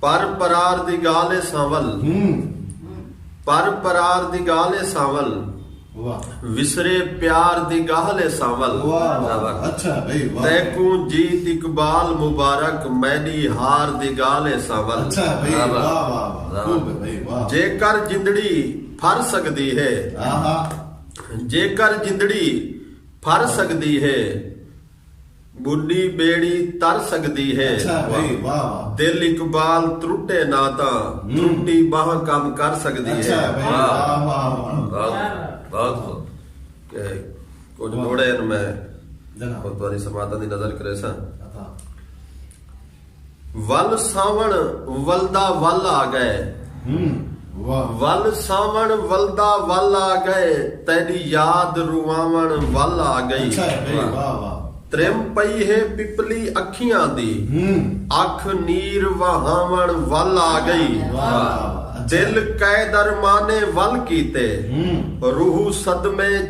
پر پرار دی ڳالھ اے سانول۔ پر پرار دی ڳالھ اے سانول۔ وسرے پیار دی ڳالھ اے سانول۔ تیکوں جیت اقبال مبارک میݙی ہار دی ڳالھ اے سانول۔ جیکر جندڑی پھر سڳدی ہے۔ جیکر جندڑی پھر سڳدی ہے۔ گڈی بیڑی تر سگدی ہے دل اقبال ترٹے نہ تاں ترٹی بانہہ کم کر سگدی ہے کجھ موڑے ہن میں خود تہاڈی سماعتاں دی نظر کریساں۔ ول ساوݨ ولدا ول آ ڳئے۔ ول ساوݨ ولدا ول آ ڳئے تیݙی یاد رواوݨ ول آ ڳئی ترم پئی ہے پپلی اکھیاں دی اکھ نیر وہاوݨ ول آ ڳئی دل قید ارمانے ول کیتے روح صدمے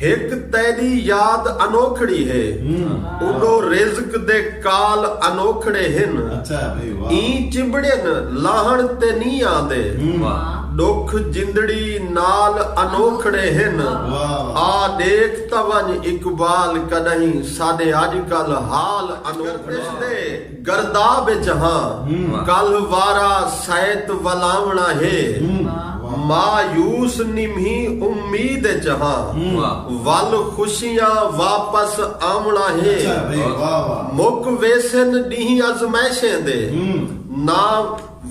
ہک تیݙی یاد انوکھڑی ہے اݙو رزق دے کال انوکھڑے ہن ایں چنبڑین لاہݨ تے نی آندے ݙکھ جندڑی نال انوکھڑے ہن آ ݙیکھ تاں ونڄ اقبال کݙاہیں ساݙے اڄ کل حال انوکھڑے گرداب اے جہاں کلھ وارا سیت ولاوݨا ہے مایوس نمہی امید اے جہاں ول خوشیاں واپس آوݨا ہے مک ویسن ݙینہہ ازمائشیں دے نہ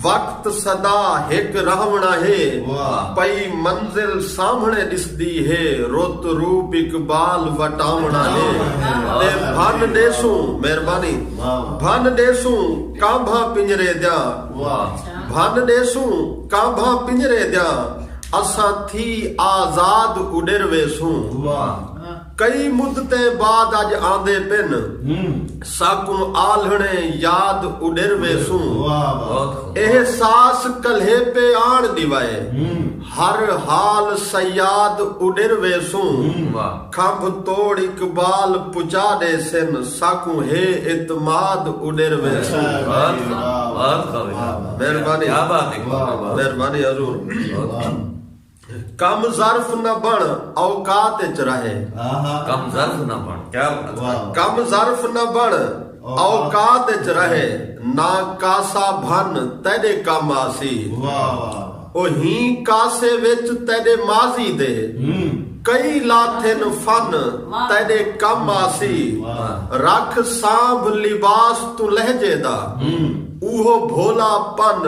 وقت سدا ہک رہوݨا ہے پئی منزل سامھݨے ݙسدی ہے رت روپ اقبال وٹاوݨا ہے تے بھن ݙیسوں مہربانی بھن ݙیسوں کانبھاں پنجرے دیاں بھن ݙیسوں کانبھاں پنجرے دیاں اساں تھی آزاد اݙر ویسوں کئی مدتیں بعد اج آندے پن۔ ساکوں آلھݨیں یاد اݙر ویسوں۔ احساس کلھیپے آݨ ݙیوائے۔ ہر حال صیاد اݙر ویسوں۔ کھمب توڑ اقبال پچا ݙیسن۔ ساکوں ہے اعتماد اݙر ویسوں۔ مہربانی مہربانی حضور۔ کم ظرف نہ بن اوقات اچ رہے کم ظرف نہ بن کیا کم ظرف نہ بن اوقات اچ رہے نہ کاسا بھن تیرے کم آسی او ہی کاسے وچ تیرے ماضی دے کئی لاتھن فن تیرے کم آسی رکھ سانبھ لباس تو لہجے دا اوہو بھولا پن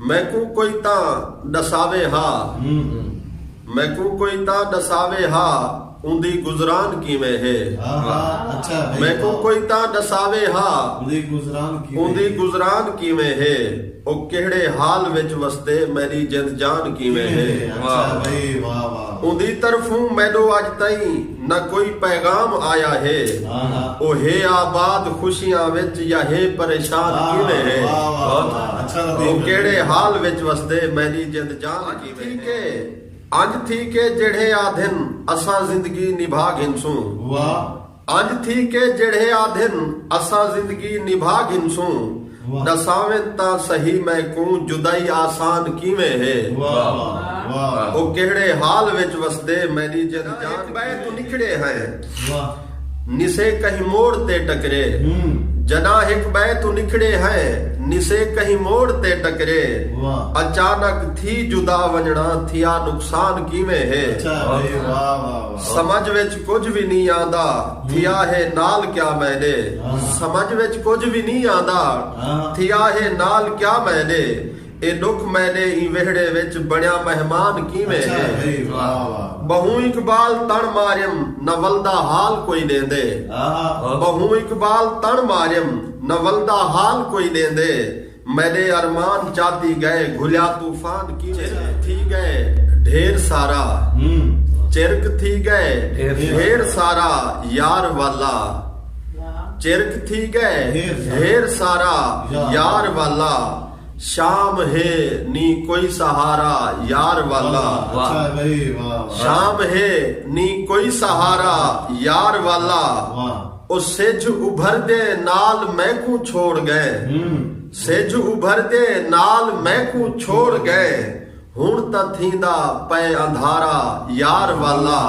میکوں کوئی تاں ݙساوے ہا۔ میکوں کوئی تاں ݙساوے ہا اوندی گزران کیویں ہے۔ میکوں کوئی تاں ݙساوے ہا اوندی گزران کیویں ہے۔ او کیہڑے حال وچ وسدے میݙی جند جان کیویں ہے۔ اوندی طرفوں میݙو اڄ تئیں۔ نہ کوئی پیغام آیا ہے او ہے آباد خوشیاں وچ یا ہے پریشان کیویں ہے او کیڑھے حال وچ وسدے میݙی جند جان کیویں ہے انج تھی کے جیڑھے آدھن اساں زندگی نبھا گھنسوں انج تھی کے جیڑھے آدھن اساں زندگی نبھا گھنسوں۔ ݙساویں تاں سہی میکوں جدائی آسان کیویں ہے او کیہڑے حال وچ وسدے میݙی جد جان ہک ٻئے توں نکھڑے ہیں نسے کہیں موڑ تے ٹکرے جݙاں ہک ٻئے توں نکھڑے ہیں نسے کہیں موڑ تے ٹکرے اچانک تھی جدا ونڄݨاں تھیا نقصان کیویں ہے۔ سمجھ وچ کجھ وی نی آندا تھیا ہے نال کیا میں دے سمجھ وچ کجھ وی نی آندا تھیا ہے نال کیا میں دے اے ڈکھ میں دے ایں ویہڑے وچ بنیا مہمان کیویں ہے بہوں اقبال تݨ ماریم نہ ولدا حال کوئی ݙیندے بہوں اقبال تݨ ماریم نہ ولدا حال کوئی ݙیندے۔ میݙے ارمان چاتی ڳئے گھلیا طوفان کیویں چرک تھی ڳئے ڈھیر سارا چرک تھی ڳئے ڈھیر سارا یار والا چرک تھی ڳئے ڈھیر سارا یار والا شام ہے نی کوئی سہارا یار والا شام ہے نی کوئی سہارا یار والا او سجھ ابھر دے نال میکوں چھوڑ ڳئے سجھ ابھر دے نال میکوں چھوڑ ڳئے ہݨ تاں تھیندا پئے اندھارا یار والا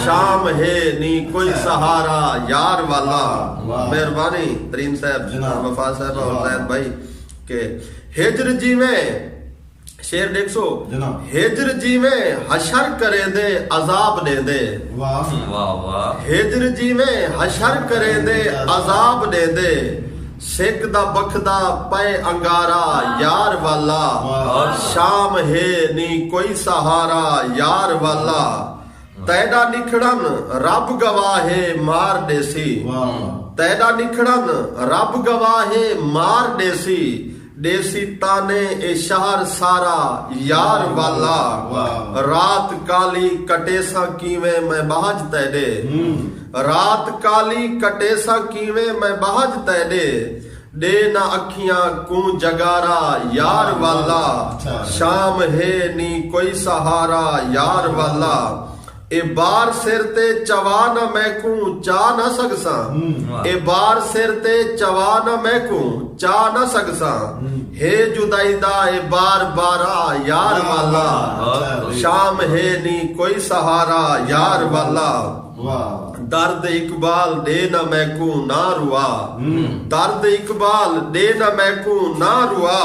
شام ہے نی کوئی سہارا یار والا مہربانی ترین صاحب وفا صاحبہ اور زید بھائی کہ ہجر جیویں شعر ݙیکھ سو ہجر جیویں حشر کریندے عذاب ݙیندے ہجر جیویں حشر کریندے عذاب ݙیندے سک دا بکھدا پئے انگارا یار والا شام ہے نی کوئی سہارا یار والا تیݙا نکھڑن رب گواہ ہے مار ݙیسی تیݙا نکھڑن رب گواہ ہے مار ݙیسی ݙیسی تانے اے شہر سارا یار والا رات کالی کٹیساں کیویں میں ٻہج تیݙے رات کالی کٹیساں کیویں میں ٻہج تیݙے ݙے نہ اکھیاں کوں جگارا یار والا شام ہے نی کوئی سہارا یار والا اے بار سر تے چوا نہ میکوں چا نہ سگساں اے بار سر تے چوا نہ میکوں چا نہ سگساں ہے جدائی دا اے بار بارا یار والا شام ہے نی کوئی سہارا یار والا درد اقبال ڈے نہ میکوں نہ روا درد اقبال ڈے نہ میکوں نہ روا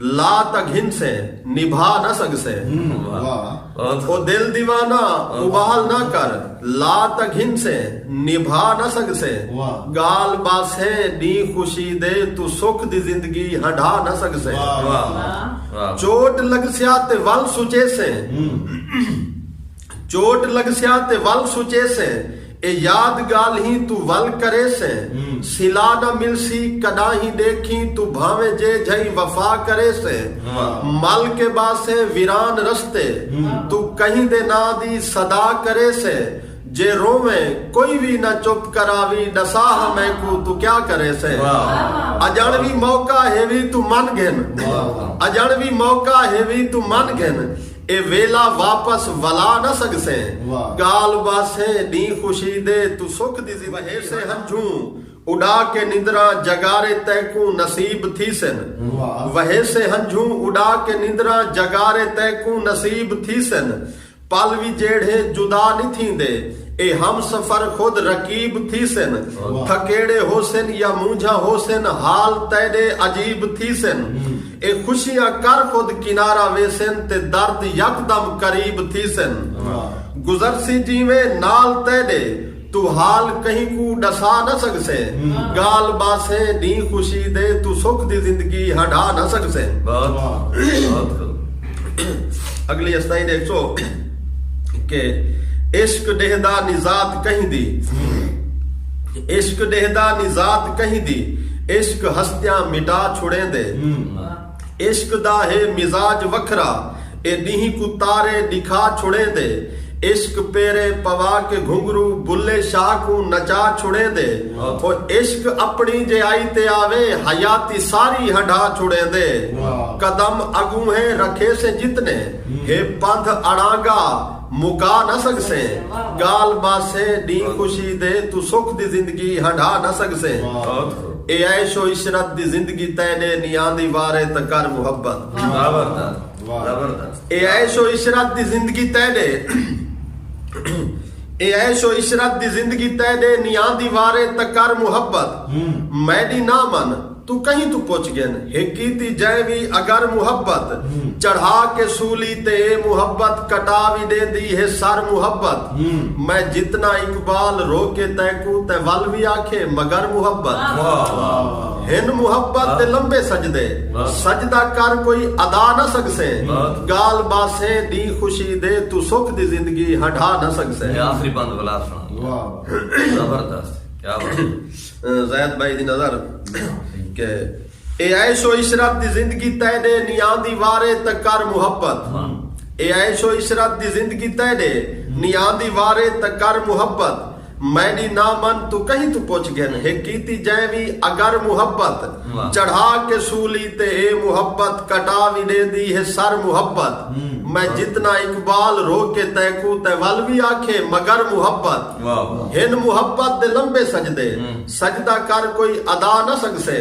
لا تاں گھنسے نبھا نہ سڳسے او دل دیوانہ ابال نہ کر لا تاں گھنسے نبھا نہ سڳسے ڳالھ ٻاسے ݙینہہ خوشی دے توں سکھ دی زندگی ہنڈھا نہ سڳسے چوٹ لڳسیا تے ول سچیسے چوٹ لگسیا تے ول سچیسے اے یاد گالھیں توں ول کریسے سلا نہ ملسی کڈاہیں ڈیکھیں توں بھانویں جے جھئیں وفا کریسے مل کے باسے ویران رستے توں کہیں دے ناں دی صدا کریسے جے روویں کوئی وی نہ چپ کراوی ڈسا ہا میکوں توں کیا کریسے اجنڑ وی موقع ہیوی توں من گھن اجنڑ وی موقع ہیوی توں من گھن اے ویلھا واپس ولا نہ سگسے۔ ڳالھ ٻس اے ݙینہہ خوشی دے توں سکھ دی زندگی وہیسے ہنجھوں اݙا کے نندراں جڳارے تینکوں نصیب تھیسن وہیسے ہنجھوں اݙا کے نندراں جڳارے تینکوں نصیب تھیسن پل وی جیڑھے جدا نی تھیندے اے ہم سفر خود رقیب تھیسن تھکیڑے ہوسن یا مونجھاں ہوسن حال تیݙے عجیب تھیسن۔ اے خوشیاں کر خود کنارہ ویسن تے درد یکدم قریب تھیسن گزرسی جیویں نال تیڈے توں حال کہیں کوں ڈسا نہ سگسیں گال باسیں ڈینہہ خوشی دے توں سکھ دی زندگی ہنڈا نہ سگسیں۔ اگلی استائی ڈیکھسو کہ عشق ڈیہندا نی ذات کہیں دی۔ عشق ݙیہدا نی ذات کہیں دی عشق ہستیاں مٹا چھوڑیندے عشق دا ہے مزاج وکھرا اے ݙینہہ کوں تارے ݙکھا چھوڑیندے عشق پیرے پوا کے گھنگھرو بلھے شاہ کوں نچا چھوڑیندے او عشق اپݨی جے آئی تے آوے حیاتی ساری ہنڈھا چھوڑیندے قدم اڳونہہ رکھیسیں جتنے ہے پندھ اڑانگا مکا نہ سڳسے ڳالھ ٻاسے ݙینہہ خوشی دے توں سکھ دی زندگی ہنڈھا نہ سڳسے اے عیش و عشرت دی زندگی تیݙے نی آندی وارے تاں کر محبت اے عیش و عشرت دی زندگی تیݙے اے عیش و عشرت دی زندگی تیݙے نی آندی وارے تاں کر محبت میݙی نہ من توں کہیں توں پچھ گھن ہک کیتی جئیں وی اگر محبت چڑھا کے سولی تے اے محبت کٹا وی ڈیندی ہے سر محبت میں جتنا اقبال رو کے تینکوں تیں ول وی آکھے مگر محبت ہن محبت تے لمبے سجدے سجدہ کر کوئی ادا نہ سگسیں گال باسیں ڈینہہ خوشی دے توں سکھ دی زندگی ہنڈھا نہ سگسیں۔ زید بھائی دی نظر کہ اے عیش و عشرت دی زندگی تیڈے نیاں دی وارے تے کر محبت اے عیش و عشرت دی زندگی تیڈے نیاں دی وارے تے کر محبت میڈی نہ من تو کہیں تو پچھ گھن ہے کیتی جیں وی اگر محبت چڑھا کے سولی تے اے محبت کٹا وی دے دی ہے سر محبت میں جتنا اقبال رو کے تیکو تے ول وی آکھے مگر محبت ہن محبت دے لمبے سجدے سجدہ کر کوئی ادا نہ سگسے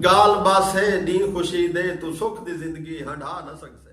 گالھ بس ہے ڈینہہ خوشی دے توں سکھ دی زندگی ہنڈھا نہ سگسے۔